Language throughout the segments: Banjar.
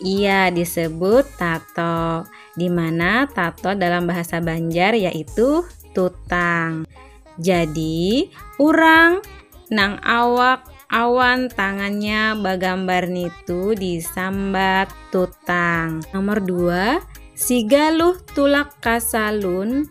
Iya, disebut tato. Di mana tato dalam bahasa Banjar yaitu tutang. Jadi, orang nang awak awan tangannya bagambar nitu disambat tutang. Nomor dua, si galuh tulak kasalun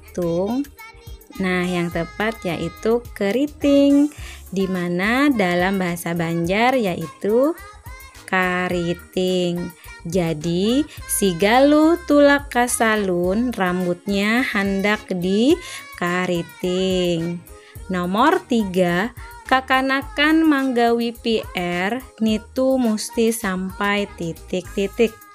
hitung. Nah, yang tepat yaitu keriting, di mana dalam bahasa Banjar yaitu kariting. Jadi, si Galuh tulak ke salun, rambutnya hendak di kariting. Nomor tiga, kakanakan manggawi PR nitu mesti sampai titik-titik.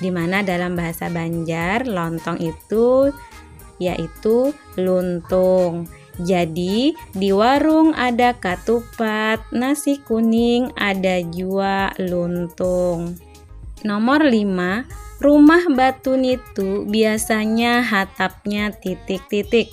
di mana dalam bahasa Banjar lontong itu yaitu luntung. Jadi di warung ada katupat, nasi kuning, ada jua luntung. Nomor 5, rumah batu nitu biasanya hatapnya titik-titik.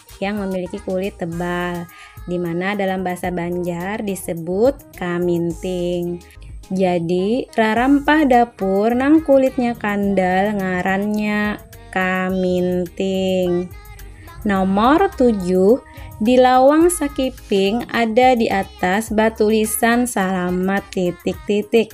yang memiliki kulit tebal, di mana dalam bahasa Banjar disebut kaminting. Jadi, rarampah dapur nang kulitnya kandal ngarannya kaminting. Nomor 7, di lawang sakiping ada di atas batulisan salamat titik-titik.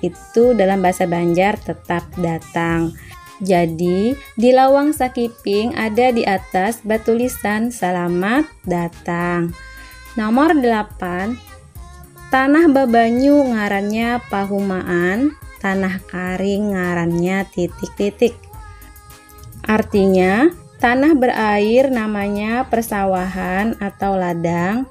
itu dalam bahasa Banjar tetap datang. Jadi, di lawang sakiping ada di atas batulisan selamat datang. Nomor 8. Tanah babanyu ngarannya pahumaan, tanah karing ngarannya titik-titik. Artinya, tanah berair namanya persawahan atau ladang,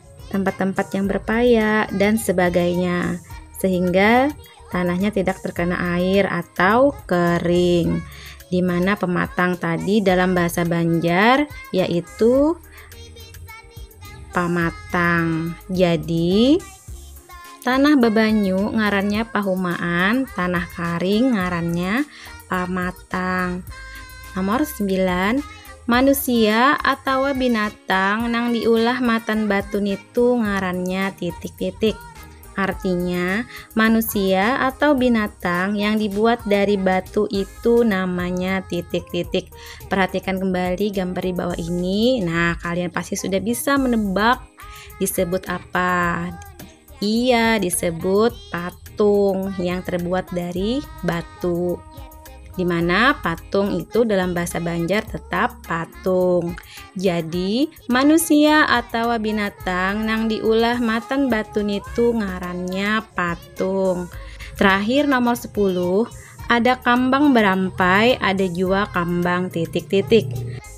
tempat-tempat yang berpaya dan sebagainya sehingga tanahnya tidak terkena air atau kering di mana pematang tadi dalam bahasa Banjar yaitu pamatang jadi tanah bebanyu ngarannya pahumaan tanah karing ngarannya pamatang binatang. Nomor 9, manusia atawa binatang nang diulah matan batu nitu ngarannya titik-titik. Artinya, manusia atau binatang yang dibuat dari batu itu namanya titik-titik. Perhatikan kembali gambar di bawah ini. Nah, kalian pasti sudah bisa menebak disebut apa. Iya, disebut patung yang terbuat dari batu. Di mana patung itu dalam bahasa Banjar tetap patung. Jadi, manusia atau binatang nang diulah matan batu nitu ngarannya patung. Terakhir nomor 10, ada kambang berampai, ada jua kambang titik-titik.